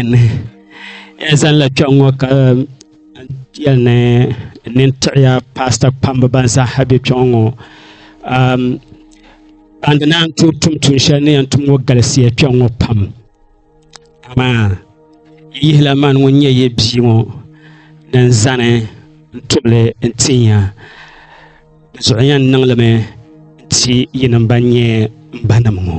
N zaŋla kpɛŋ ŋo ka yɛli ni n nini tiɣiya paasita kpamba ban zaaha bɛ kpɛ ŋo ban di naan tooi tum tuun shɛli ni yɛn tum ŋo galisiya kpɛ ŋo pam amaa yi yihila mani ŋun nyɛ yi bia ŋo ni n zani n tubili n tin ya di zuɣu yɛn niŋlimi n ti yini n ban nyɛ n ba nim ŋo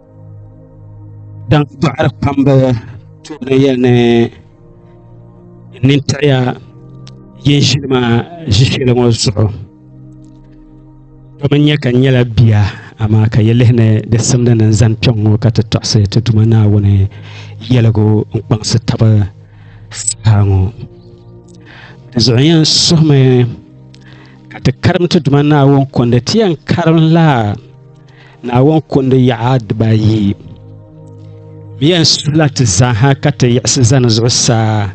Dan dɔɣiri kpamba tooni yɛli ni nintaɣiya yin ʒili ma ʒishɛli ŋɔ zuɣu domi nyɛ ka n nyɛla bia amaa ka yi lihi ni di simdi ni n zani kpɛŋŋɔ ka ti tɔɣisi ti Duuma Naawuni yɛligu n-kpaŋsi taba saha ŋɔ di zuɣu yɛn suhimi ka ti karim ti Duuma Naawuni kundi ti yɛn karim laa Naawuni kundi yaɣa dibaayi mi yɛn sula ti zaaha ka ti yiɣisi zani zuɣusaa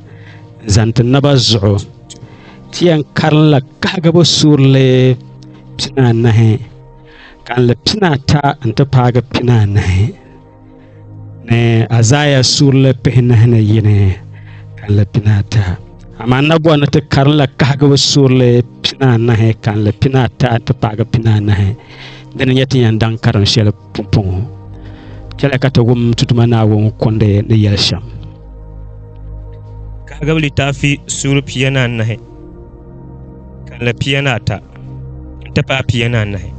n-zani ti naba zuɣu. Ti yɛn karinla kahigibu suurili pinaanahi, kalinli pinaata nti paagi pinaanahi. ni Azaaya surili pihinahi ni yini kanli pinaata amaa nabuwa ni ti karinla kahigibu surili pinaanahi kanli pinaata ti paagi pinaanahi di ni nyɛ ti yɛn daŋ karim shɛli pumpɔŋɔ chɛla ka ti wum tutuma naawuni kundi ni yɛli shɛm kahigibu litaafi suuri pia ni anahi kanli pia ni ata n ti paai pia ni anahi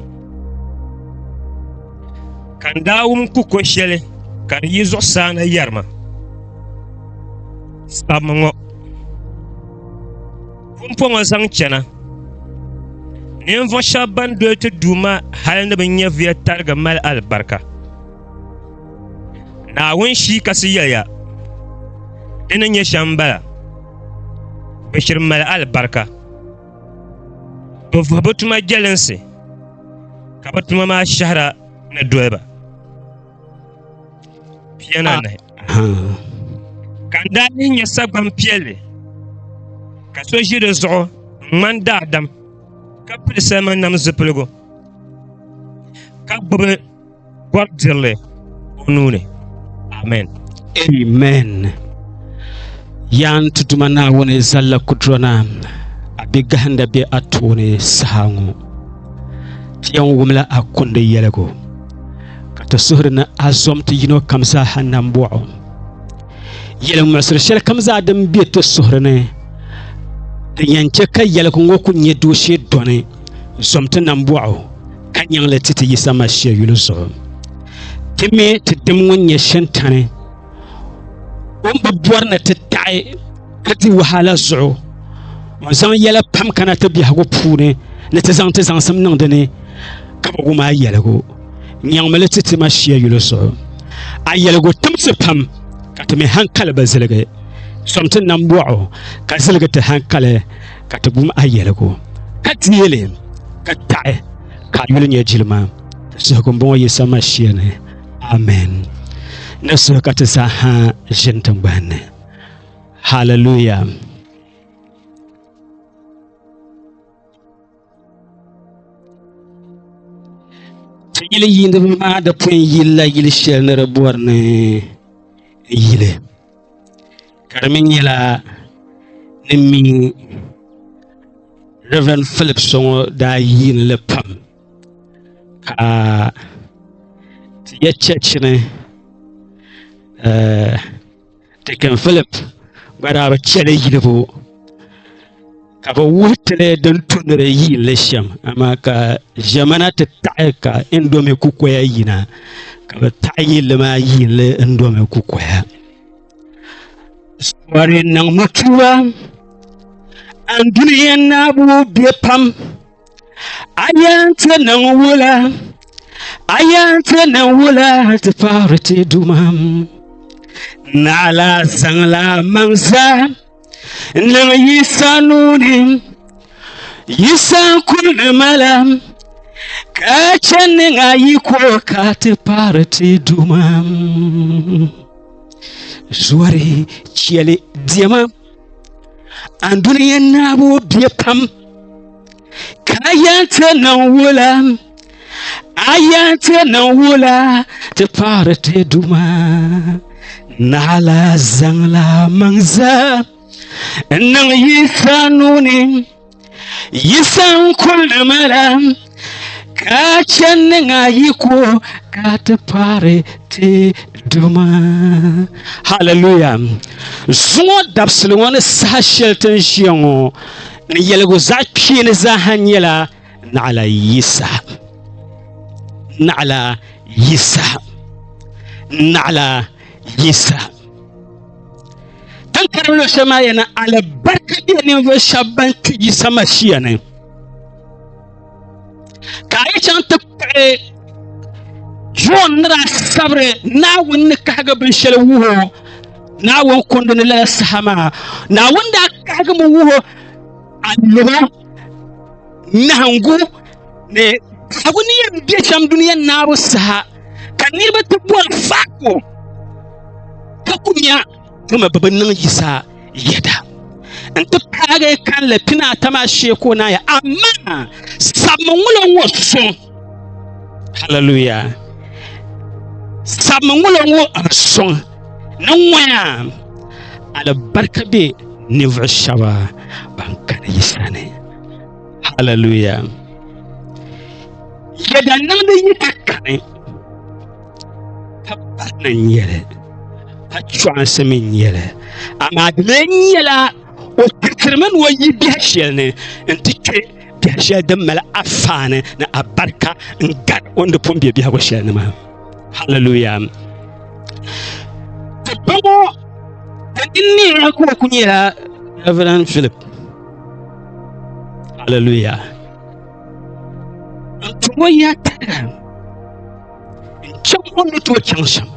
Ka n daa wum ku ko shɛli ka di yi zuɣusaa na yɛri ma, Sabimi ŋɔ pumpɔ ŋɔ zaŋ chɛna. Ninvuɣ shɛba ban doli ti Duuma hal ni bɛ nyɛviya tarigi mali alibarika. Naawuni shii kasi yɛliya, Di ni nyɛ shɛm m-bala, bɛ shiri mali alibarika, bɛ vuhi bɛ tuma jɛlinsi. ka bi tuma maa shɛhira ni doliba pia ni anahi ka n daa lihi nyɛ sagban piɛlli ka so ʒi di zuɣu n ŋmani daadam ka pili salima nam zipiligu ka gbubi bɔri dirili o nuuni amen amen yaan ti duma naawuni zalla kudurona a bɛ gahinda bɛ a tooni saha ŋɔ ti yɛn wumla a kundi yɛligu ka ti suhuri ni a zom ti yino kam zaaha nambɔɣu yɛli ŋmɛsiri shɛli kam zaa din bɛ ti suhuri ni din yɛn chɛ ka yɛligu ŋɔ ku nyɛ dooshee dɔni zom ti nambɔɣu ka nyaŋli ti ti Yisa Masia yuli zuɣu. Ti mi ti dim ŋun nyɛ Shintani o ni bi bɔri ni ti taɣi ka di wahala zuɣu o zaŋ yɛla pam kana ti biɛhigu puuni ni ti zaŋ ti zaŋsim niŋ di ni ka bi wum a yɛligu nyaŋmili ti ti Masia yuli zuɣu. A yɛligu timsi pam ka ti mi hankali bi ziligi, sɔŋ ti nambɔɣu ka ziligi ti hankali ka ti gum a yɛligu, ka deeli ka taɣi ka a yuli nyɛ jilima suhigu m-bɔŋɔ Yisa Mashia ni. Amen. Ni suhi ka ti zaa ha ʒini tiŋgbani ni. Hallelujah. Ti yili yiiniba maa di pun yilila yili shɛli ni di bɔri ni yili ka di mi nyɛla ni mi Rɛd Filip so ŋɔ daa yiini li pam ka ti yɛ chɛchini Tikin Philip gba daa bi chɛli yilibu ka bi wuhi tili din tumdiri yiinli shɛm amaa ka ʒɛmana ti taɣi ka indomi kukoya yina ka bi taɣi yilli maa yiinli indomi kukoya sawari niŋmi tuba anduli yɛn naabu bɛ pam A yɛn ti niŋ wula a yɛn ti niŋ wula ti paɣiri ti dumam naɣila zaŋla maŋ zaa niŋ yisa nuuni yisa kuli ni mala ka chɛ niŋ a yi ko ka ti paɣiri ti dumam zɔri chɛli diɛma An dunia naabu bɛ pam ka yɛn ti niŋ wula a yɛn ti niŋ wula ti paɣiri ti duma naɣila zaŋla maŋ zaa n niŋ yi saa nuuni Yi san kuli mala ka chɛ niŋ a yi ko ka ti paari ti duma haleluya zuŋɔ dabisili ŋɔ ni saha shɛli tin ʒiya ŋɔ ni yɛligu zaɣ kpeeni zaaha nyɛla naɣila yisa naɣila yisa naɣila Yisa. Tan karim lo shɛli maa yɛna alibarika bɛ ninvuɣu shɛba ban kpi Yisa Mashia ni. Ka a yi chaŋ ti kpuɣi John ni daa sabiri Naawuni ni kahigi binshɛli wuho Naawuni kundi ni lala saha maa Naawuni daa kahigi mi wuho a lɔba nahingu ni kahigu ni yɛn bɛ shɛm duniya naabu saha ka niraba ti bɔri faako ka ku nya dama bi bi niŋ yisa yɛda n ti paagi kanli pina ata maa shee ka o naaya amaa sabimi ŋulo ŋɔ so haleluya sabimi ŋulo ŋɔ so ni ŋɔya alibarika bɛ ninvuɣu shaba ban kana yisa ni haleluya yɛda niŋdi yi ka kani ka barina n nyɛli ka chɔɣinsi mi n nyɛli amaa di lee nyɛla o tirimi ni o yi biɛha shɛli ni n ti kpe biɛha shɛli din mali afaani ni abarika n gari o ni di pun be biɛhigu shɛli ni maa haleluya ti bɔŋɔ ka din neeya ka o ku nyɛla reverend philip Hallelujah. Ntumo ya tɛra chɛŋ o ni tooi chɛŋ shɛm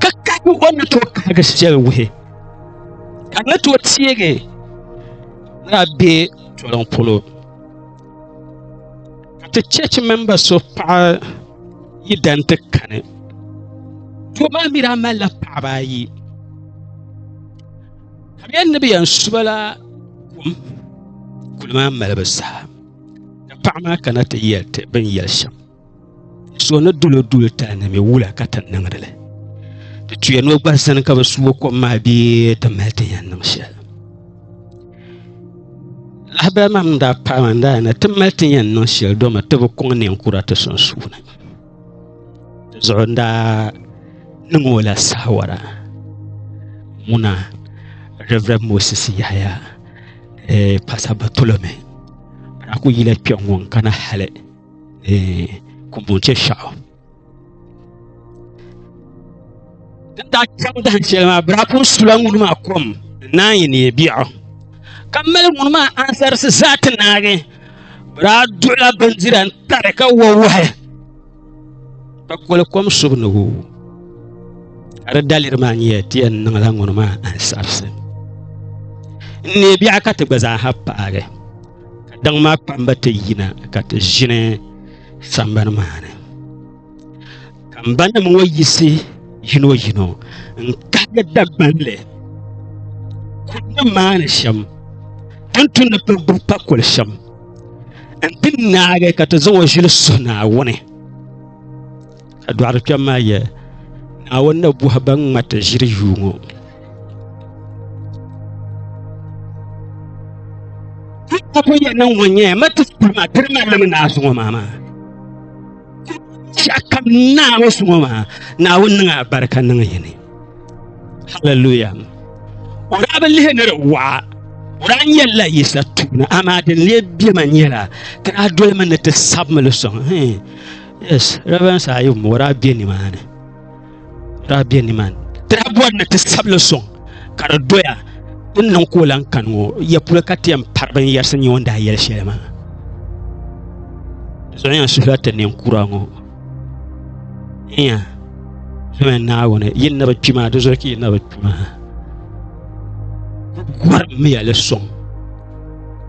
ka kahi o ni tooi kahigi shɛli wuhi ka ni tooi teegi ni a bɛ toliŋ polo ka ti chɛchi mɛmba so paɣa yi dan ti kani doo maa mi daa malila paɣaba ayi Ka bɛ ni bɛ yɛn su ba la kum kuli maa malibu saha ka paɣa maa kana ti yɛli ti bin yɛli shɛm so ni dulo duli tali ni mi wula ka ti niŋdi li ti tuya ni o gba zani ka bi suo kom maa bee ti mali ti yɛn niŋ shɛli lahabali maa n daa paai maa n daa yana ti mali ti yɛn niŋ shɛli domi ti bi kɔŋ ninkura ti sunsuuni zuɣu n daa niŋ o la saawara ŋuna reverend moses yahaya eh, pastor batolome a ku yila kpɛ ŋɔ n kana hali eh, kumbunche shɛɣu Din daa chaŋ dahin shɛli maa biraaku sula ŋuni maa kom naan yi neei biɛɣu ka mali ŋuni maa ansarisi zaa ti naagi biraa duɣula bindira n tari ka wa wahi ka koli kom subu ni wu ka di daliri maa nyɛ ti yɛn niŋla ŋuni maa ansarisi n neei biɛɣu ka ti gba zaa ha paagi ka daŋ maa kpamba ti yina ka ti ʒini sambani maa ni ka n ba nim ŋɔ yisi yino yino n kahigi dagbanli kuli ni maani shɛm tin tu ni pili gbubi pa kuli shɛm n ti naagi ka ti zaŋ o ʒili suhi naawuni ka dɔɣiri kpɛm maa yɛ naawuni na buhi ban ŋmati ʒiri yuu ŋɔ ko yɛ niŋ ŋɔ nyɛ ma ti kuli maa tiri ma lami naazuŋɔ maa maa shɛkam naawuni suŋɔ maa naawuni niŋ a barika niŋ yini haleluya o daa bi lihi ni di waɣa o daa nyɛlila yisa tuuni amaa din lee bɛma nyɛla ti daa dolimi ni ti sabimi li sɔŋ yes reverend saa yi o daa bɛ nimaani daa be nimaani ti daa bɔri ni ti sabi li sɔŋ ka di doya ti niŋ ka o lan kani ŋɔ ya polo ka ti yɛn pari binyɛrisi nyɛ o ni daa yɛli shɛli maa zuɣu yɛn suhila ti ninkura ŋɔ iya zuɣu yɛn naawuni yi ni bi kpi maa di zuɣu ka yi ni bi kpi maa gɔrimiya li sɔŋ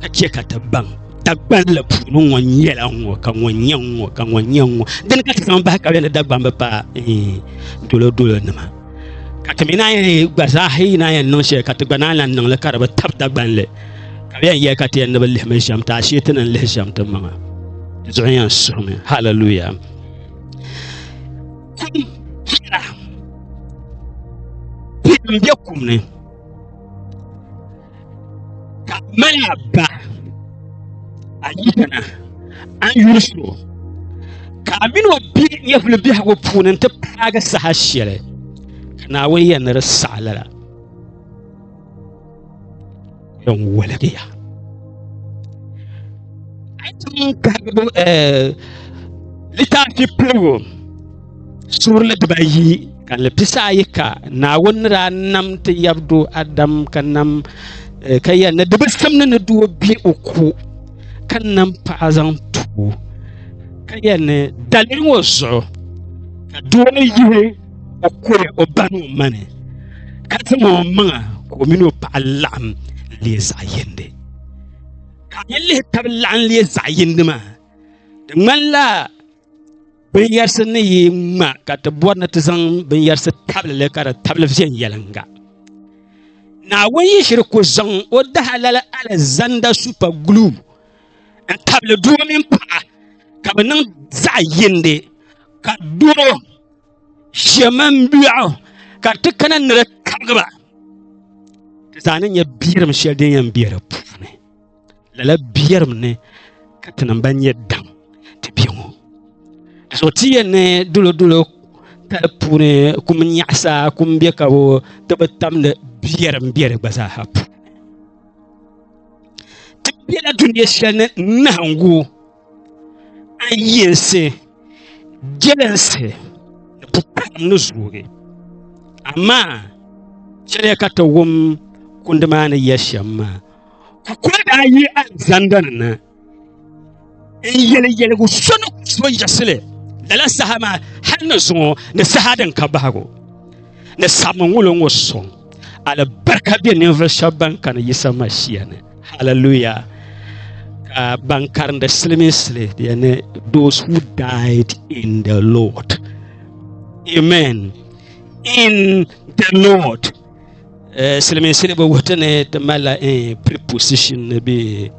ka chɛ ka ti baŋ Dagbamli puuni ŋɔ nyɛla ŋɔ ka ŋɔ nyɛ ŋɔ ka ŋɔ nyɛ ŋɔ dini ka ti zaŋ bahi ka bɛ ni dagbam bi pa dolo dolo nima ka ti mi naan yɛn gba zaa yi naan yɛn niŋ shɛli ka ti gba naan lahi niŋli ka di bi tabi dagbanli ka bi yɛn yɛli ka ti yɛn ni bi lihimi shɛm ti ashee ti ni lihi shɛm ti maŋa di zuɣu yɛn suhimi halaluya n bɛ kum ni ka mala ba a yi kana an yuli suro ka a mini o bɛ nyɛvuli biɛhagu puuni n ti paagi saha shɛli ka naawuni yɛn ni di saɣa lala yɛn woligiya a yi tiŋ kahigibu eh, littaafi piligu Suurili dibayi ka ni pisa ayi ka naawuni ni daa nam ti yabdo Adam ka nam eh, ka yɛli ni di bi simdi ni doo bɛ o ko ka nam paɣa zaŋ tuo ka yɛli ni daliri ŋɔ zuɣu ka doo ni yihi o kuli o ba ni o mani ka zaŋ o maŋa ka o mini o paɣa laɣam lee zaɣ yindi ka a yi lihi tabi laɣam lee zaɣ yindi maa di ŋmanila binyɛrisi ni yi ŋma ka ti bɔri ni ti zaŋ binyɛrisi tabilili ka di tabili viɛnyɛliŋga naawuni yi shiri ku zaŋ o dahalali alizanda supa guluu n tabili doo mini paɣa ka bi niŋ zaɣ yindi ka doo shɛ mini biɛɣu ka di ti kana ni di kabigiba ti zaa ni nyɛ biɛrim shɛli din yɛn bɛ di puuni lala biɛrim ni ka ti niŋ ba nyɛ daŋ ti bɛ ŋɔ di zuɣu ti yɛn ni dolo dolo kali puuni kum nyaɣasa kum bɛ ka bo ti bi tamdi biɛrim bɛ di gba zaaha puuni ti biɛla dunia shɛli ni nahaŋgu A yinsi jɛlinsi ni pupaɣilim ni zoogi, amaa chɛliya ka ti wum kundi maa ni yɛli shɛm maa. Kukoli daa yi alizanda ni na n-yɛli yɛligu so ni ku so yiɣisili lala saha maa hal ni zuŋɔ ni saha din ka bahigu ni sabiŋgulo ŋɔ sɔŋ. Alibarika be ninvuɣu sheba ban kani Yisa Masia ni. Hallelujah. Ka ban karindi siliminsili yani those who died in the Lord. Amen. In the Lord. Eh, siliminsili bi wuhiti ni ti malila eh, preposition ni be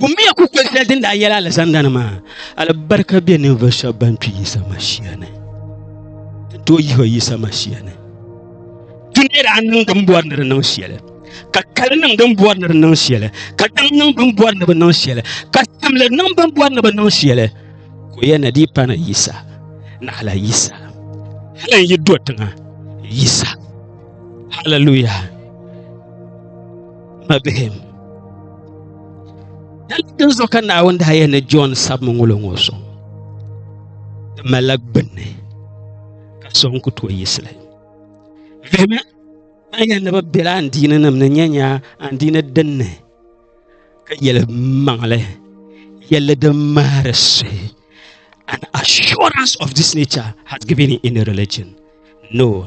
Kumbiya ku kpeli shɛli din daa yɛla alizandani maa alibarika bɛ ninvuɣu shɛba ban kpi Yisa Mashia ni ti tooi yihi Yisa Mashia ni ti ni daa niŋ din bɔri ni di niŋ shɛli ka kali niŋ din bɔri ni di niŋ shɛli ka daŋ niŋ bin bɔri ni bi niŋ shɛli ka simli niŋ bin bɔri ni bi niŋ shɛli ka o yɛn na dii pana Yisa naɣala Yisa hali n yi do tiŋa Yisa hallelujah mabihim din zuɣu ka naawuni daa yɛ ni john sabimi ŋolo ŋɔ so di malila gbunni ka so n ku tooi yisili vihimi a yɛn ni bi biɛla andiini nim ni nyɛ nya andiini dinni ka yɛli maŋli yɛli din mahari suhi an assurance of this nature has given in any religion no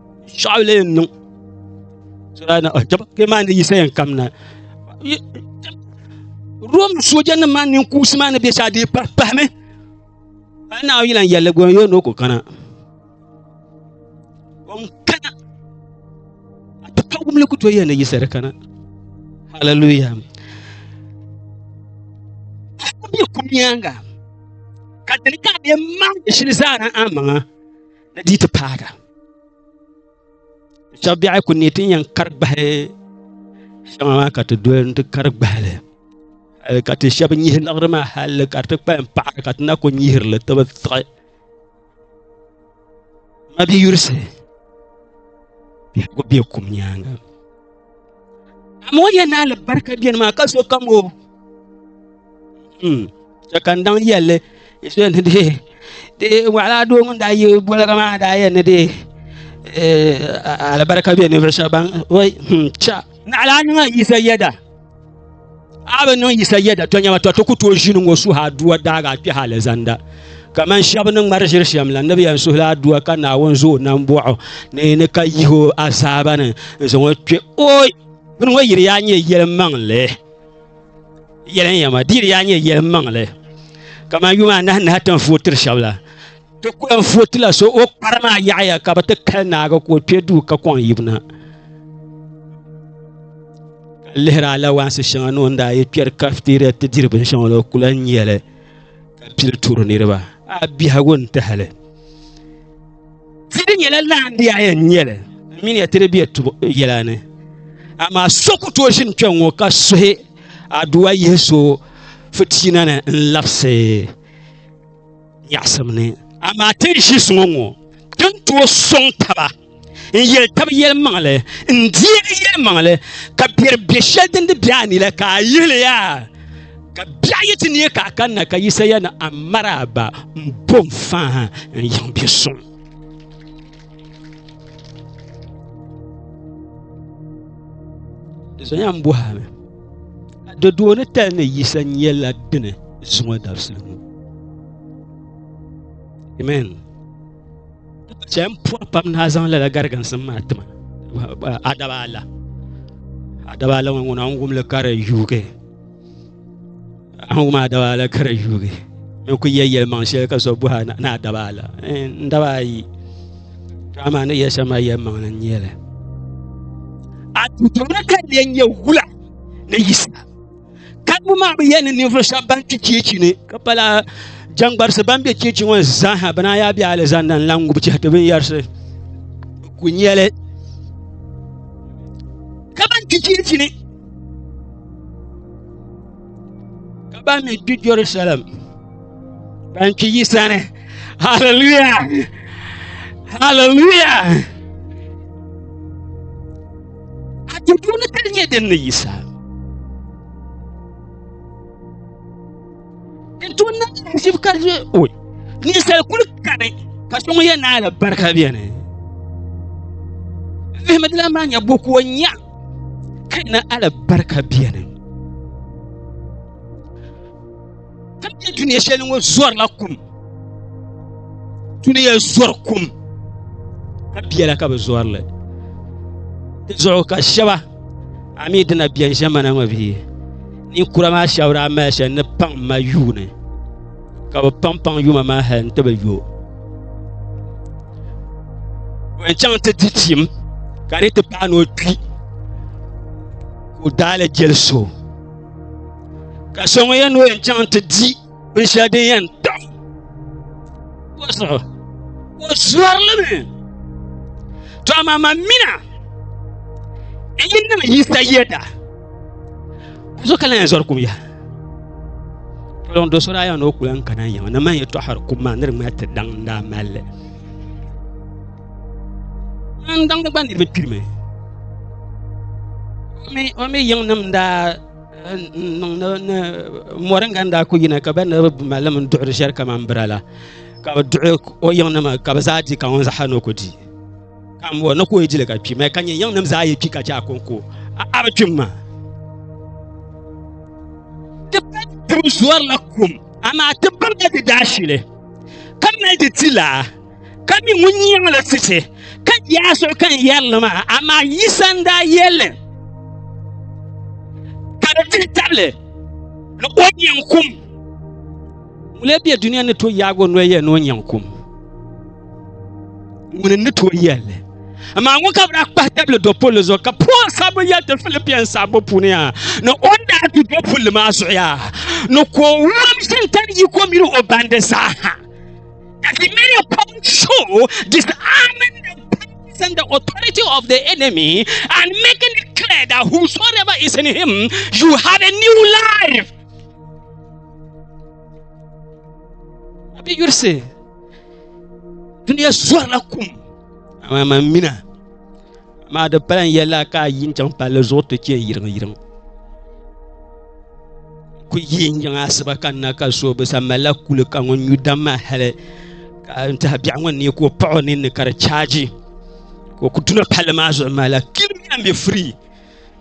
sɔɣili n niŋ kpe maa ni yisa yɛn kam na rom sooja nim maa nin kuusi maa ni bɛ shɛli di pahimi a yi naawuni yɛlan yɛlli gɔn yoo ni o ku kana o n kana a ti pa wumli ku tooi yɛn ni yisa di kana hallelujah bɛ ku nyaaŋa ka dini ka bɛ maŋ shili zaa na a maŋa ni di ti paaga shɛbi biɛhi ku ne ti yɛn kari gbahi shɛŋa maa ka ti doli ti kari gbahili eh, ka ti shɛbi nyihi liɣiri maa halli ka ti kpalim paɣari ka ti na ku nyihirili ti bi tiɣi ma bi yurisi biɛhigu be kum nyaaŋa Amma o yɛn naali barika bɛni maa ka so kam o. Chɛ ka n daŋ yɛlli so ni dee de waɣala doo ŋun daa yi boliga maa daa yɛn ni dee alibarika bɛ ninvuɣu shɛba ban cha naɣala niŋa yisa yɛda. a bi niŋ yisa yɛda to nyɛma to ti ku tooi ʒini ŋɔ suhi aduwa daaga kpɛh alizanda kamani shɛba ni ŋmari ʒiri shɛm la ni bi yɛn suhila aduwa ka naawuni zo o nam bɔɣu ni ni ka yihi o azaaba ni n zaŋ o kpɛ oi bini ŋɔ yiri yaa nyɛ yɛli maŋli yɛli n yɛma di yiri yaa nyɛ yɛli maŋli kamani yuma anahi nahi ti ni vootiri shɛba la ti ku yɛn footi la so o kpari maa yaɣaya ka bi ti kali naagi ka o kpɛ duu ka kɔŋ yibina ka lihiri alawaansi shɛŋa ni o ni daa yi kpɛri kafitiria ti diri binshɛŋa la o ku lahi nyɛli ka pili turi niriba a biɛhigu n tahali ti di nyɛla laandi a yɛn nyɛli mini ya ti di bɛ yɛla ni amaa so ku tooi ʒini kpɛ ŋɔ ka suhi aduwa yihi so fitina ni n labisi nyaɣasim ni. Amaa ti ni ʒi suŋɔ ŋɔ, ti ni tooi sɔŋ taba n-yɛli tab yɛlimaŋli n-deegi yɛlimaŋli, ka biɛri be shɛli din di be a ni la ka a yihili ya, ka biɛɣu yi ti neei ka a kanna ka Yisaya ni Amaraaba m-bo m-fahim n-yiŋ bɛ suŋ. Zonya n bɔhami di dooni tali ni yisa nyɛla dini zuŋɔ dabisili ŋɔ amen chɛ n puhi pam ni a zaŋ lala gariginsim maa tima adaba ala adaba ala ŋɔ ŋuna n wumli ka di yuugi Angu maa daba ala kara yuugi n ku yɛ yɛlimaŋ shɛli ka so buha ni a daba ala n daba ayi dama ni yɛ shɛm maa yɛlimaŋ ni nyɛli a tutumni ka lɛ nyɛ wula ni yisa karibu maa bi yɛ ni ninvuɣu shɛba ban kpi cheechi ni ka pala jɛŋgbarisi ban bɛ cheechi ŋɔ zaaha bi naan yaa bɛ alizanda n lan ŋubi chɛhiti binyɛrisi ku nyɛli ka ban kpi cheechi ni ka ban mi kpi jerusalem ban kpi yi sani haleluya haleluya a ti puuni ka di nyɛ din ni yisa n tu na shib ka je oi ninsal kuli kani ka so ŋun yɛ naala barika bɛni vihimidila maa nyɛ buku o nya ka na alibarika biɛni ka bɛ duniya shɛli ŋɔ zɔrila kum duniya zɔri kum ka biɛla ka bi zɔrili di zuɣu ka shɛba a mi dina biɛni ʒɛmana ŋɔ bee ninkura maa shɛba daa mali shɛli ni paŋ ma yuuni ka bi paŋ paŋ yuma maa hali n ti bi yo n chaŋ ti di chim ka di ti pahi ni o kpi o daali jeli so ka so ŋun yɛn ni o yɛn chaŋ ti di binshɛli din yɛn tam o zuɣu o zɔrili mi to amaa ma mina n yi niŋ yisa yɛda so ka la yɛn zɔri kum yaha kpɛŋ do so daa yɛn ni o kula n kana yɛŋ na man yɛtɔɣari kum maa ni di ŋmali ti daŋ n daa malli n daŋdi gba niriba kpirimi o mi yiŋ nim daa niŋ ni mɔri n ganda ku yina ka ba ni bi mali min duɣiri shɛli kamani bira la ka bi duɣi o yiŋ nima ka bi zaa di ka ŋun zaɣa ni o ku di ka n bɔri ni ka o yi dili ka kpi mali ka nyɛ yiŋnim zaa yi kpi ka chɛ a kɔŋko a a bi kpi m ma ti pa ti bi zɔri la kum amaa ti birila di daashili ka mali di ti laa ka mi ŋun yiŋ la tichi ka yaa so kan yɛri li maa amaa Yisa n daa yɛli ka di tihi tabili ni o yiŋ kum Ŋuni n-be dunia ni tooi yaagi o noli yɛli ni o nyaŋ kum? Ŋuni n-ni tooi yɛli li? Amaa ŋun ka bi daa kpahi tabili dɔpulli zuɣu ka Paul sabbu yɛli ti Filipian sabbu puuni yaa ni o ni daa du dɔpulli maa zuɣu yaa ni ka o wurim shintani yiko mini o bandi zaaha. That he may upon show disarming the powers and the authority of the enemy and making it clear that whosoever is in him you have a new life. a bɛ yurisi duniya sɔrila kum amaa man mina maa di pala n yɛla ka a yin chaŋ palli zuɣu ti chɛ yiriŋ yiriŋ ku yi n yiŋ asiba ka na ka so bi sa malila kuli ka ŋun nyu dam maa hali ka n tihi biɛɣu ŋɔ ni ka o paɣa o ninni ka di chaaji ka o ku duna palli maa zuɣu maa la kilimiya mi firii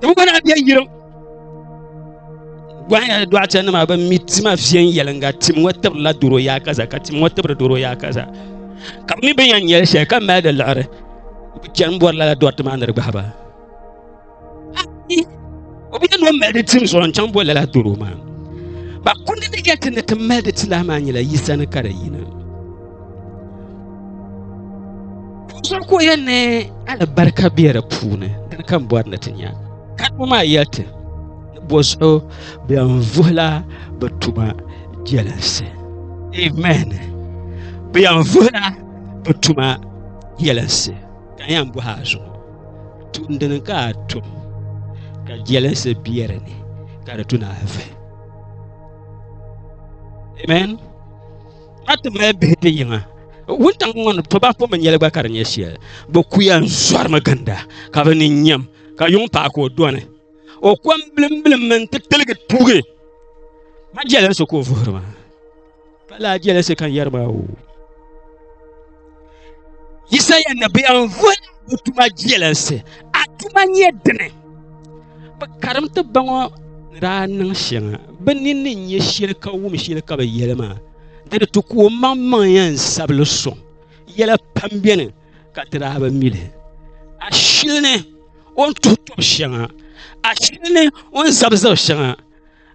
tiŋgbana bɛ yirim gɔhi na dɔɣita nima ban mi tima viɛnyɛlinga tim ŋɔ tibirila doro yaa kaza ka tim ŋɔ tibiri doro yaa kaza ka bi mi bin yɛn nyɛli shɛli ka mali di liɣiri bi chɛni bɔri lala dɔriti maa ni di gbahi ba o bi yɛn ni o mali di tim zuɣu n chaŋ bɔri lala doro maa ba kundi di yɛn ti ni ti mali di ti lahi maa nyɛla yisa ni ka di yina so ku yɛ ni alibarika bɛ di puuni dini ka n bɔri ni ti nya ka ti maa yɛli ti ni bɔ zuɣu bɛn vuhila bi tuma jɛlinsi amen bɛn vuhila bi tuma jɛlinsi ka yɛn bɔhi a zuɣu tumdini ka a tum ka jɛlinsi bɛ di ni ka di tuna a vuhi amen a ti mali bihi ti yiŋa wuntaŋ ŋɔ ni toba ko binyɛli gba ka di nyɛ shɛli bi kuya n zɔrimi ginda ka bi ni nyɛm ka yuŋ paɣa ka o doni o kom bilim bilim mini ti tiligi tuugi ma jɛlinsi ka o vuhiri ma ka laa jɛlinsi ka n yɛri ma o Yisaya nabiya n voli bi tuma jelinsi a tuma nyɛ dini bi karim ti baŋɔ ni daa niŋ shɛŋa bi ninni n nyɛ shɛli ka wum shɛli ka bi yɛli maa di ni ti ku o maŋ maŋ yɛn sabili soŋ yɛla pam biɛni ka ti daa bi mili a shili ni o ni tuhi tɔbu shɛŋa a shili ni o ni zabi zabi shɛŋa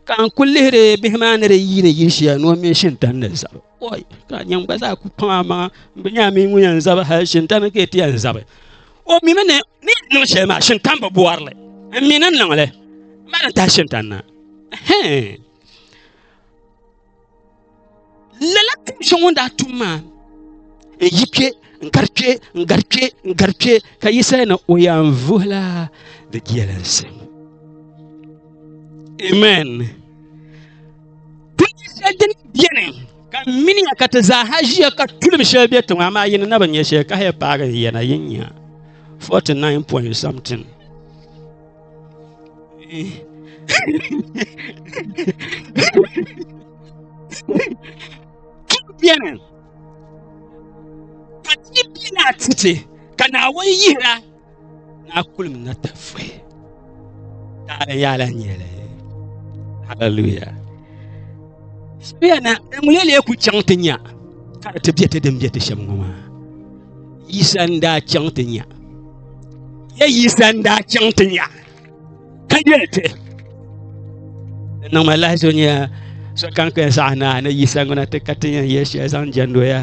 ka n ku lihiri bihi maa ni di yiini yili shɛli ni o mini Shintani ni zabi Oi, ka nyɛm gba zaa ku pam amaa n bi nya a mi ŋun yɛn zabi hali shintani ka ti yɛn zabi. O mimi ni ni niŋ shɛli maa shintani bi bɔri li. N mi ni n niŋ li. N ma ni tahi shintani na. Hɛn. Lala tum shɛŋa ŋun daa tum maa n yi kpe n gari kpe n gari kpe n gari kpe ka Yisaya ni o yɛn vuhila di jelinsi. Amen. Tulim shɛli din beni ka miniya ka ti zaaha ʒiya ka tulim shɛli be tiŋa amaa yini na bi nyɛ shɛli ka haya paagi n yana yin nya 49 point something beni ka ti bina titi ka naawuni yihira Na kulim na ta fuhi. Taɣala yaala nyɛli. Hallelujah. Shia na ŋun yɛli ku chaŋ ti nya ka di ti bɛ ti din bɛ ti shɛm ŋɔ maa. Yisa n daa chaŋ ti nya. Ya yisa n daa chaŋ ti nya. ka yɛli ti di niŋ ma lahi so nyɛ sokam kpɛ zaɣ naa ni yisa ŋuna ti ka ti yɛn yɛli shɛli zaŋ jɛndoya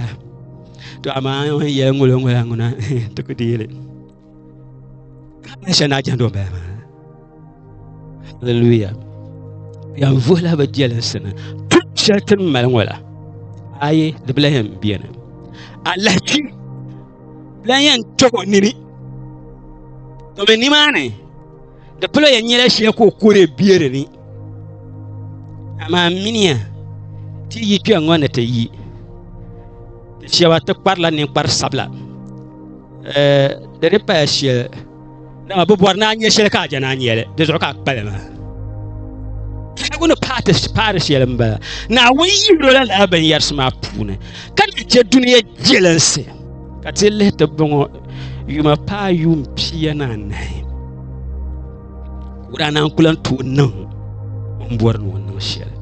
to amaa n yɛli ŋolo ŋola ŋuna ti ku di yɛli shɛli naa jɛndo bala maa haleluya yɛn vuhila bi jɛlinsi ni tum shɛli ti ni mali ŋola ayi di bila yɛn biɛni alahichi la yɛn kpɛb o nini domi nimaani di pala yɛn nyɛla shɛli ka o kuli bɛ di ni amaa miniya ti yi kpɛ ŋɔ ni ti yi ti shɛba ti kparila ninkpari sabila di ni paya shɛli dama bi bɔri naa nyɛ shɛli ka a jana nyɛli di zuɣu ka a kpali maa tɛhigu ni paati paari shɛli n bala naawuni yi lola lala binyɛrisi maa puuni ka ni chɛ duniya jelinsi ka ti lihi ti bɔŋɔ yuma paa yuun pia ni anahi wurana n kula n tooi niŋ n bɔri ni o niŋ shɛli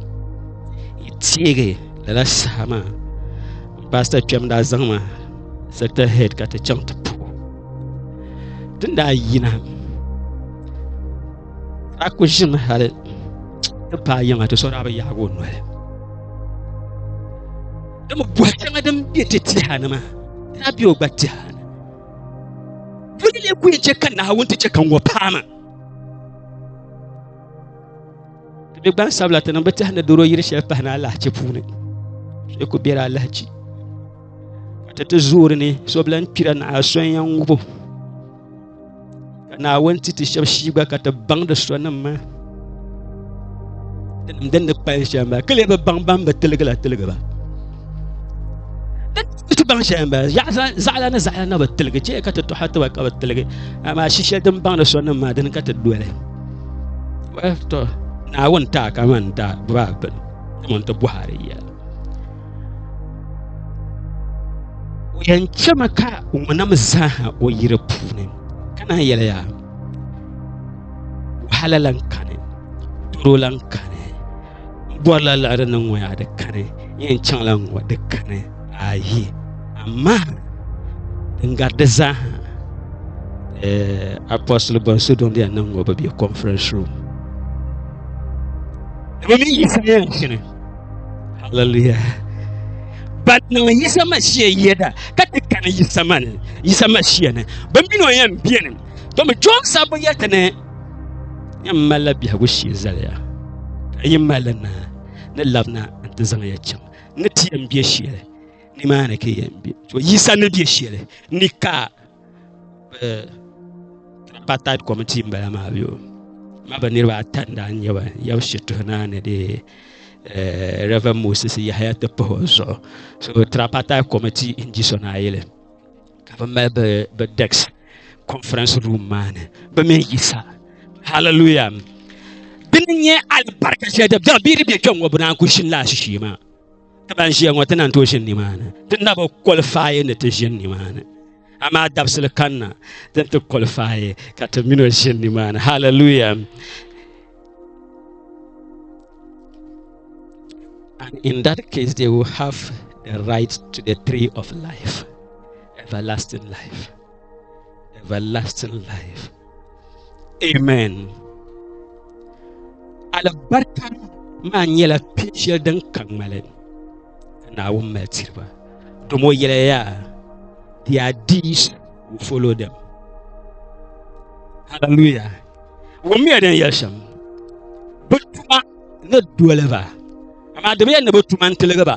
yi teegi lala saha maa n paasita kpɛm daa zaŋ ma sector head ka ti chaŋ ti ti ni daa yina a ku ʒimi hali ti paai yiŋa ti so daa bi yaagi o noli dama bɔhi shɛŋa din bɛ ti tiha ni maa ti daa bɛ o gba tiha ni bɔli lee ku yɛn chɛ ka naawuni ti chɛ ka ŋɔ paama ti bɛ gbansabila ti niŋ bi tihi ni doro yiri shɛli pahi ni alahichi puuni so ku biɛla alahichi ka ti zuuri ni so bi lahi kpira ni a sonya ŋubu ka naawuni ti ti shɛba shii gba ka ti baŋ di sonim maa dinim din ni kpali shɛm ba kili bi baŋ ban bi tiligi la tiligi ba ti baŋ shɛm ba zaɣala ni zaɣala na bi tiligi chɛ ka ti tɔha tiba ka bi tiligi amaa shishɛli din baŋ di sonim maa dini ka ti doli naawuni taa kamani daa bibaa bini kamani ti bɔhari yɛla O yɛn chɛmi ka ŋunam zaaha o yiri puuni ka naan yɛliya wahala lan kani doro lan kani n bɔrila liɣiri ni ŋɔ yaa di kani n yɛn chaŋla n ŋɔ di kani ayi amaa din gari di zaaha eh, apostol bɔnsi don di yɛn niŋ ŋɔ bi be conference room ni bi mi yi sayan shini Hallelujah. Ba niŋ Yisa Mashia yɛda ka ti kani Yisa mani Yisa Mashia ni bi mini o yɛn biɛni domi Jɔn sabbu yɛti ni yɛn malila biɛhigu shee zaliya ka yi mali naa ni labina n ti zaŋ ya chaŋ ni ti yɛn bɛ shɛli ni maa ni ka yɛn bɛ to Yisa ni bɛ shɛli ni ka tripartite committee n bala maa yo ma bi niriba ata n daa nyɛba yab shituhi naa ni de eh, Reverend Moses Yahya ti pahi o zuɣu so tripartite committee n di so naayili ka bi mali bi bi dex conference room maa ni bi mii yisa hallelujah dini nyɛ alibarika shɛli dini bɛ di bɛ kpɛŋŋo bi naan ku shini laa shishee maa ti ban ʒiya ŋɔ ti na tooi ʒini nimaani ti na bi kɔlifaayi ni ti ʒini nimaani amaa dabisili kanna ti ti kɔlifaayi ka ti mini o ʒini nimaani hallelujah and in that case they will have the right to the tree of life everlasting life everlasting life amen alibarika maa nyɛla pin shɛli din ka ŋmali ka naawuni mali tiriba dom o yɛla yaa their deeds will follow them hallelujah wɔmiya din yɛli shɛm bi tuma ni doliba amaa di bi yɛn ni bi tuma n tiligiba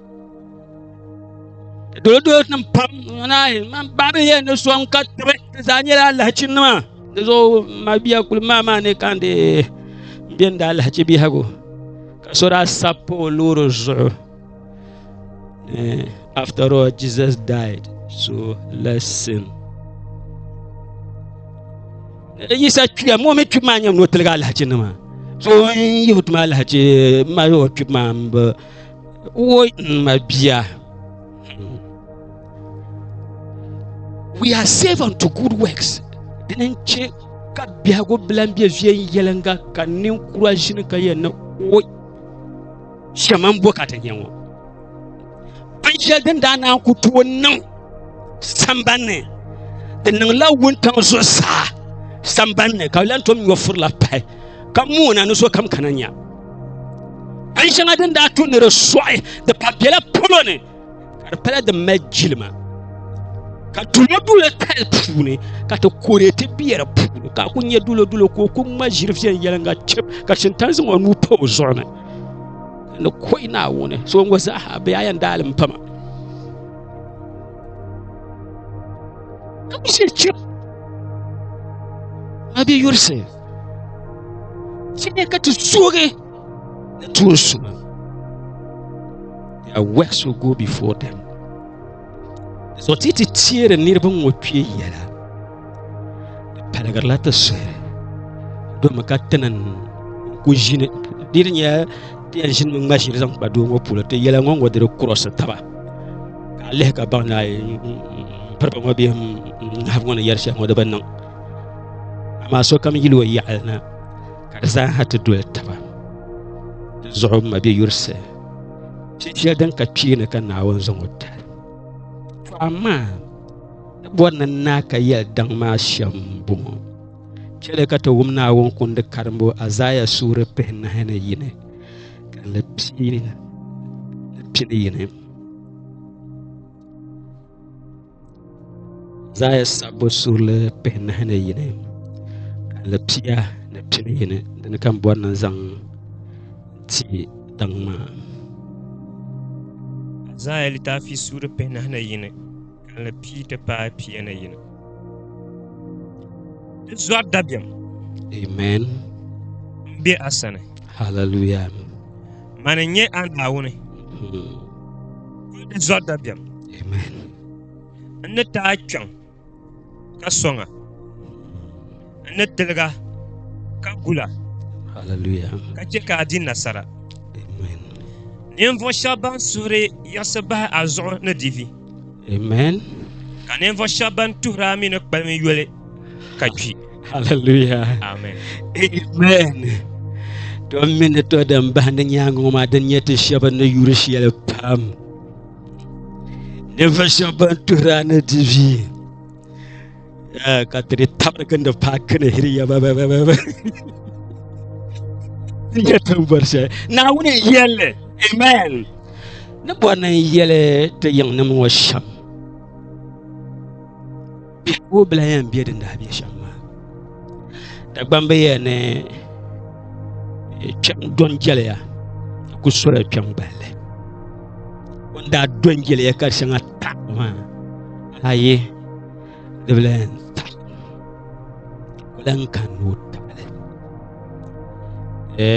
dolodolo nim pam nanahi man babi yɛ ni sɔŋ ka tibi di zaa nyɛla alahachi nima di zuɣu ma biya kuli maa maa ni kan di biɛni daa alahachi biɛhagu ka so daa sab pa o loori zuɣu after all jesus died so let's sin yisa kpiya mo mi kpib maa nyɛ ni o tiligi alahachi nima so n yihi tuma alahachi ma yi o kpib maa Woi n ma bia. We are saved unto good works. Dini n chɛ ka biɛhigu bila n bɛ viɛnyɛlinga ka ninkura ʒini ka yɛn ni woi shɛma n bo ka ti nyɛ ŋɔ. Binshɛli din daa naan ku tooi niŋ sambanni di niŋla wuntaŋ zuɣusaa sambanni ka lan tom nyɔfurila pahi ka moona ni so kam kana nya. An shɛŋa din daa tu ni di sɔɣi di pa bela polo ni ka di pala din mali jilima ka dulodulo tali puuni ka ti kore ti be di puuni ka ku nyɛ dulodulo ka o ku ŋma ʒiri viɛnyɛliŋga chib ka Shintan zaŋ o nuu pa o zuɣu ni ni kɔhi naawuni so ŋɔ zaaha bɛ yaa yɛn daali m pama ka ku shiri chib a bɛ yurisi Chɛli ka ti suugi ni tuun suma. Their works will go before them. So ti ti teeri niriba ŋɔ kpee yɛla. Di paligirila ti suhiri. Domi ka ti ni ku ʒini. Di di nyɛla ti yɛn ʒini mi ŋma ʒiri zaŋ kpa doo ŋɔ polo. Ti yɛla ŋɔ ŋɔ diri kurɔsi taba. Ka a lihi ka baŋ ni a piriba ŋɔ bee n nahibu ŋɔ ni yɛri shɛli ŋɔ di bi niŋ. amaa sokam yili o yaɣali na ka di zaaha ti doli taba di zuɣu ma bɛ yurisi shɛli din ka kpeeni ka naawuni zaŋ o tali to amaa di bɔri ni naa ka yɛli daŋ maa shɛm bɔŋɔ chɛli ka ti wum naawuni kundi karimbo azaya suuri pihi nahi ni yini ka ni pini yini Zaaya sabbu surili pihinahi ni yini alipia ni pini yini dini ka n bɔri ni zaŋ ti daŋ maa Zaaya litaafi surili pihinahi ni yini kalinli pii ti paai pia ni yini di zɔri dabiɛm amen m be a sani hallelujah Mani n nyɛ a Naawuni. Di zɔri dabiɛm. N ni ti a kpɛŋ ka sɔŋ a. N ni tiliga ka gula ka chɛ ka a di nasara. Ninvuɣ shɛba ban suhuri yiɣisi bahi a zuɣu ni di vi. Amen. Ka ninvuɣu shɛba ban tuhiri a mi ni kpalim yoli ka kpi. Hallelujah. Amen. Amen. To mi ni to din bahi ni nyaanga ŋɔ maa din nyɛ ti shɛba ni yuri shɛli pam. Ninvuɣu shɛba ban tuhiri a ni di vi. Eh, ka ti di tabiri gindi paaki ni hiriya nyɛ tiŋbɔri shɛli naawuni n yɛlli amen ni bɔri ni n yɛli ti yiŋnim ŋɔ shɛm biɛhigu bila yɛn bɛ din daa bɛ shɛm maa dagbambi yɛ ni eh, kpɛm dɔn jɛliya ku sɔrɔ kpɛm gballi o daa dɔn jɛliya ka shɛŋa ta maa ayi di bi lahi yɛn taɣi o lahi ni kan ni o taɣali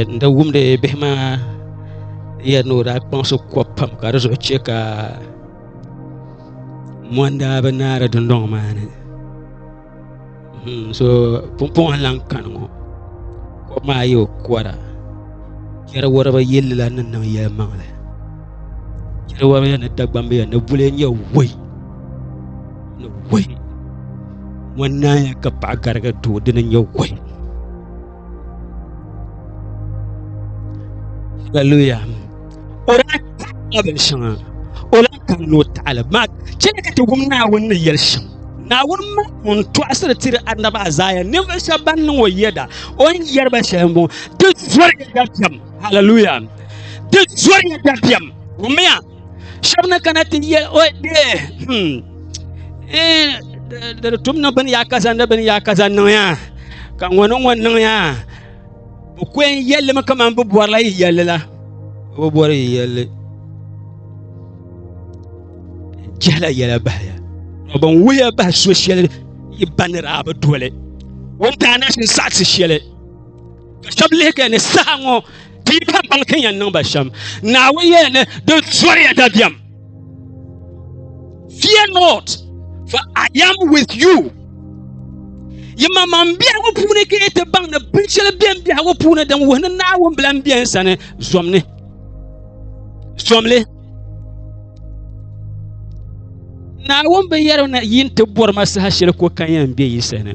n da wumdi bihi maa yɛri ni o daa kpaŋsi kɔ pam ka di zuɣu chɛ ka mondaa bi naari dundoŋ maa ni so pumpɔŋ n lahi kani ŋɔ kɔb maa yi o kɔra chɛri wariba yɛlila ni niŋ yɛlimaŋli Chiriwariya ni Dagbambiya ni Bulee nyɛ woi ni woi Mɔnaaya ka paɣa gariga doo dini nyɛ woi Hallelujah. O daa taɣila bin shɛŋa. O lahi kaŋ ni o taɣili. Maa chɛli ka ti wum Naawuni ni yɛli shɛm. Naawuni ma ŋun tɔɣisiri tiri Annabi Azaaya ninvuɣu shɛba ban niŋ o yɛda o ni yɛri ba shɛli m-bɔŋɔ. Di zɔriya dabisam. Hallelujah. Ti zɔri ya dabiɛm. Wumia. Shɛba ni kana ti yɛ o de. Hmm. Eh, di tum ni bini ya kaza ni bini ya kaza niŋ ya. Ka ŋɔ ni ŋɔ niŋ ya. Bi kɔn yɛlli mi kamani bi bɔrila yi yɛlli la. Bi bɔri yi yɛlli. Jɛla yɛla bahaya. Bin wuhiya bahi so shɛli yi banira bi doli. Wuntaanasi saɣisi shɛli. ka shɛba lihi ka ni saha ŋɔ ti yi pam baŋ ti yɛn niŋ ba shɛm naawuni yɛli ni di zɔriya dabiɛm fear not for I am with you yi ma maŋ biɛhigu puuni ka yi ti baŋ ni binshɛli bɛn biɛhigu puuni din wuhi ni naawuni bila n-bɛ n sani zomni zomli naawuni bi yɛri na yi ti bɔri ma saha shɛli ko kan yɛn bɛ yi sani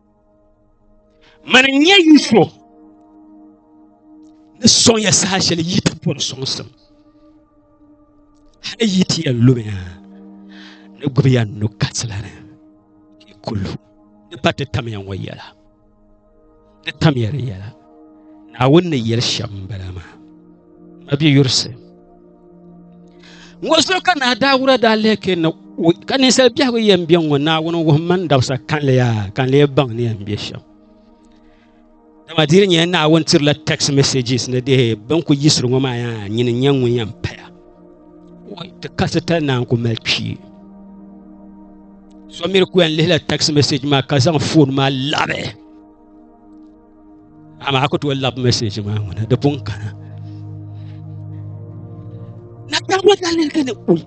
Mani n nyɛ yi so ni soŋya saha shɛli yi ti bɔri soŋsim hali yi ti yɛn lumiya ni gbubiya nu katila ni ki kulu ni pa ti tamya ŋɔ yɛla ni tamya di yɛla naawuni ni yɛli shɛm n bala maa a bɛ yurisi ŋɔ zuɣu ka naa daawura daa lihi kɛ na ka ninsal biɛhigu yɛn bɛ ŋɔ naawuni wuhum mani dabisa kanli yaa ka n lee baŋ ni yɛn bɛ shɛm dama diri nyɛla naawuni tirila text messages ni dehe bin ku yisiri ŋɔ maa yaa nyini nyɛ ŋun yɛn paya ti kasi tal naa n ku mali kpee so miri ku yɛn lihila text message maa ka zaŋ foon maa labi Amaa ku tooi labi message maa ŋuna di pun kana. Na taabo dalili ka ni kuli.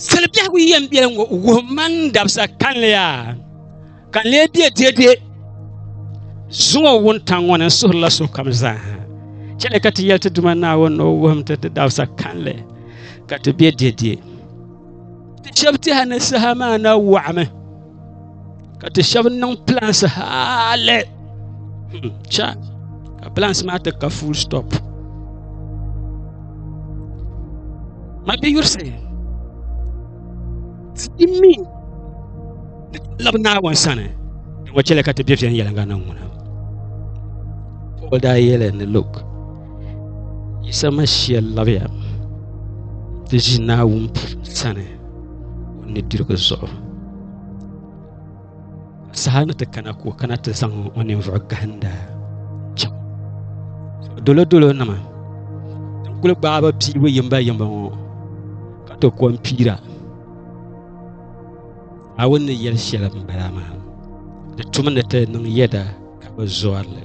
Sali biɛhigu yɛn biɛli ŋɔ wuhim man dabisa kanli yaa ka n lee bɛ dede zuŋɔ wuntaŋ ŋɔ ni suhirila sokam zaa ha chɛli ka ti yɛli ti Duuma Naawuni ni o wuhim ti di dabisa kanli ka ti bɛ dede. Shɛbi tihi ni saha maa na wɔɣimi ka ti shɛbi niŋ plans hali cha ka plans maa ti ka full stop ma bi yurisi ti mi ni labi naawuni sani din wa chɛli ka ti bɛ viɛnyɛliŋga niŋ ŋuna Paul daa yɛli ni look Yisa Masia labiya ti ʒi Naawuni sani o nudirigu zuɣu ka saha ni ti kana ka o kana ti zaŋ o ninvuɣu gahinda chaŋ dolodolo nima din kuli gbaai bi piibu yimba yimba ŋɔ ka ti kom piira Naawuni ni yɛli shɛli n bala maa di tumi ni ti niŋ yɛda ka bi zɔrili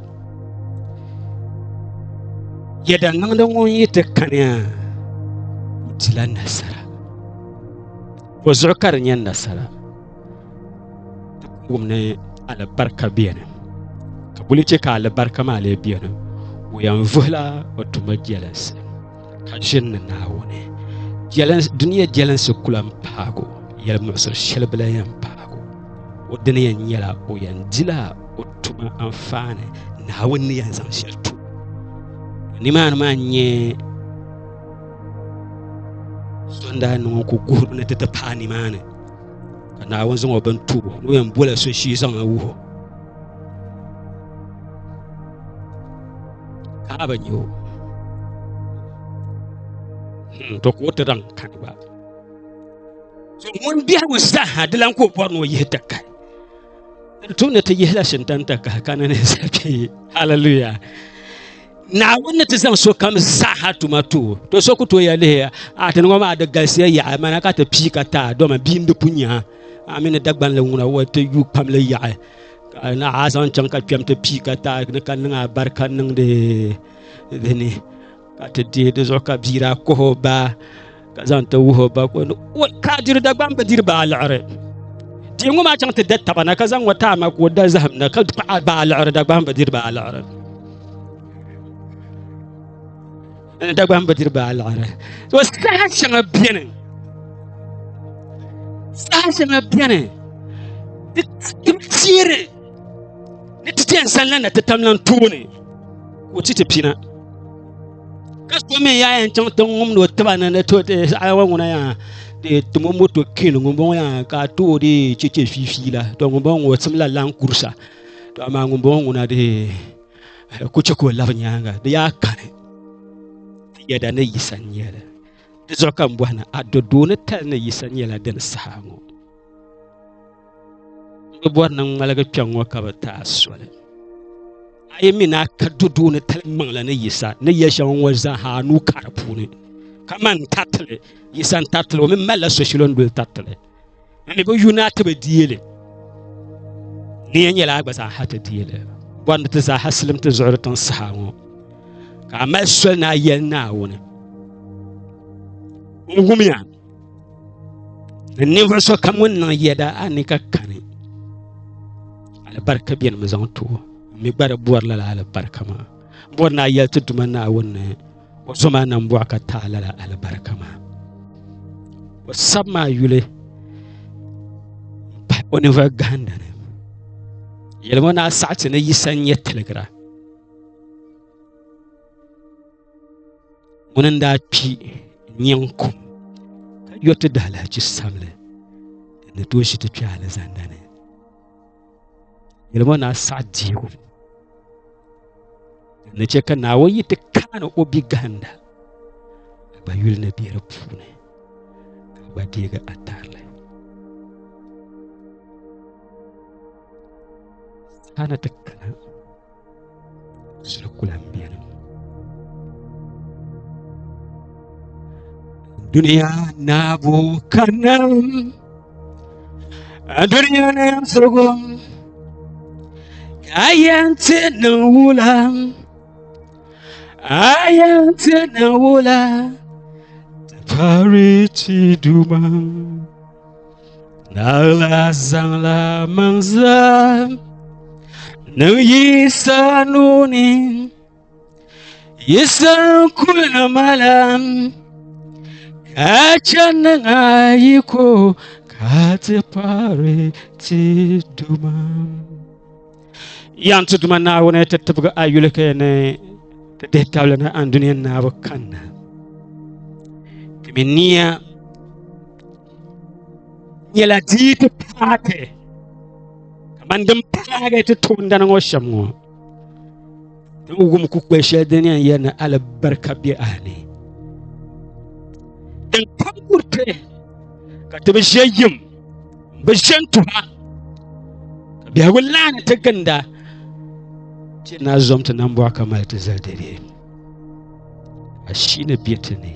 yɛda niŋdi ŋun yi ti kaniya o dila nasara o zuɣu ka di nyɛ nasara wum ni alibarika biɛni ka buli chɛ ka alibarika maa lee biɛni o yɛn vuhila o tuma jɛlinsi ka ʒiri ni Naawuni. Dunia jɛlinsi ku lan paag o, yɛl muɣisiri shɛli bi lan yɛn paag o. O dini yɛn nyɛla o yɛn dila o tuma anfaani Naawuni ni yɛn zaŋ shɛli tu. Nimaani maa n-nyɛ sɔndaa niŋ o ku guhirimi ni ti ti paai nimaani ka Naawuni zaŋ o bin tu o ni o yɛn bola so shee zaŋ a wuh o. ka a bi nya o hmm, to ka o ti daŋ kani gba so ŋun biɛhigu saha di lan ka o bɔri ni o yihi ti kahi tum ni ti yihila shintan ti kahi ka ni ni zabi haleluya naawuni ni ti zaŋ sokam zaaha tuma too to so ku toya lihiya a ti ŋɔ maa di galisiya yaɣa mana ka ti pii ka taa doma bia n di pu nyaa a mini dagbanli ŋuna wa ti yu pam li yaɣa ka na a zaŋ chaŋ ka kpɛm ti pii ka ta ni ka niŋ alibarika niŋdi di ni ka ti deei di zuɣu ka bia daa kuhi o baa ka zaŋ ti wuhi o ba ka o ni o ka a diri dagbani bi diri baa liɣiri deei ŋɔ maa chaŋ ti da taba na ka zaŋ ŋɔ taai ma ka o da zaham na ka kpaɣa baa liɣiri dagbani bi diri baa liɣiri Dagbaŋ bi diri baa liɣiri. To saha shɛŋa beni. Saha shɛŋa beni. Ti tiiri ni ti chɛn sanla na ti tamlan tooni. Ka o ti ti pina. Ka so mi yaa yɛn chaŋ ti ŋumdi o tiba ni ni to saha wa ŋuna yaa de timo moto kin ŋumbɔŋɔ yaa ka to de cheche fiifiila. To ŋumbɔŋɔ ŋɔ simla lan kursa. To amaa ŋumbɔŋɔ ŋuna de Ka ku chɛ ka o labi nyaaŋa, di yaa kani ti yɛda ni Yisa n-nyɛli. Di zuɣu ka m bɔhi ni a do doo ni tali ni Yisa nyɛla dini saha ŋɔ? N bi bɔri ni n ŋmaligi kpɛŋ ŋɔ ka bɛ ti a soli. A yi mi ni a ka do doo ni tali maŋli ni Yisa ni yɛli shɛŋa ŋɔ zaa ha, a nuu ka di puuni. Kaman n tariti li, Yisa n-tariti li, o mi malila so shili o ni doli tariti li. ni bi yu naa ti bi deeli ni ya nyɛla a gba zaa ha ti deeli bɔri ni ti zaa ha silim ti zuɣuri tiŋ saha ŋɔ ka a mali soli ni a yɛli naawuni n wumiya ni ninvuɣu so kam ŋun niŋ yɛda a ni ka kani alibarika bɛni mi zaŋ tuo mi gba di bɔri lala alibarika maa bɔri ni a yɛli ti duma naawuni ni O zo maa nam bɔɣu ka taɣi lala alibarika maa. O sab maa yuli pahi o ninvuɣu gahinda ni. Yɛlim o ni a saɣiti ni Yisa n-nyɛ tiligira. Ŋuni n-daa kpi nyin kum ka yɔ ti dahalahichi sabili ni tooi shi ti kpɛ alizanda ni. Yɛlima na saɣ diibu ni chɛ ka naawɔ yi ti kaani o bi gahinda ka gba yuli ni bɛ di puuni ka gba deegi a tarili saɣana ti kana Shɛli kula n beni. Duniya naabu ka nam duniya ni yɛn sirigu ka yɛn ti ni wula a yɛn ti ni wula ti pari ti duma. Naɣila zaŋla maŋ zaa niŋ Yisa nuuni. Yisa kuli na mala ka chani na yi ko ka ti paari ti duma. Yan ti duma Naawuni ti tibigi a yulike ni ti dihi tabili ni an duniya naabu kanna. Timi niya nyɛla dii ti paagi kamani din paagi ti toondana ŋɔ shɛm ŋɔ ti ni wum kukpɛ shɛli din yɛn yɛri ni alibarika bɛ a ni din kam kuriti ka ti bi ʒe yim bi ʒe n tuha ka biɛhigu laani ti ginda ti na zom ti nambɔɣu ka mali ti zali dɛdɛ a shii ni bɛ ti ni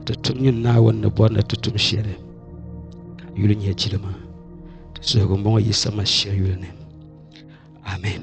ti tum nyini naawuni ni bɔri ni ti tum shɛli ka yuli nyɛ jilima ti suhigu m-bɔŋɔ Yisa Masia yuli ni amin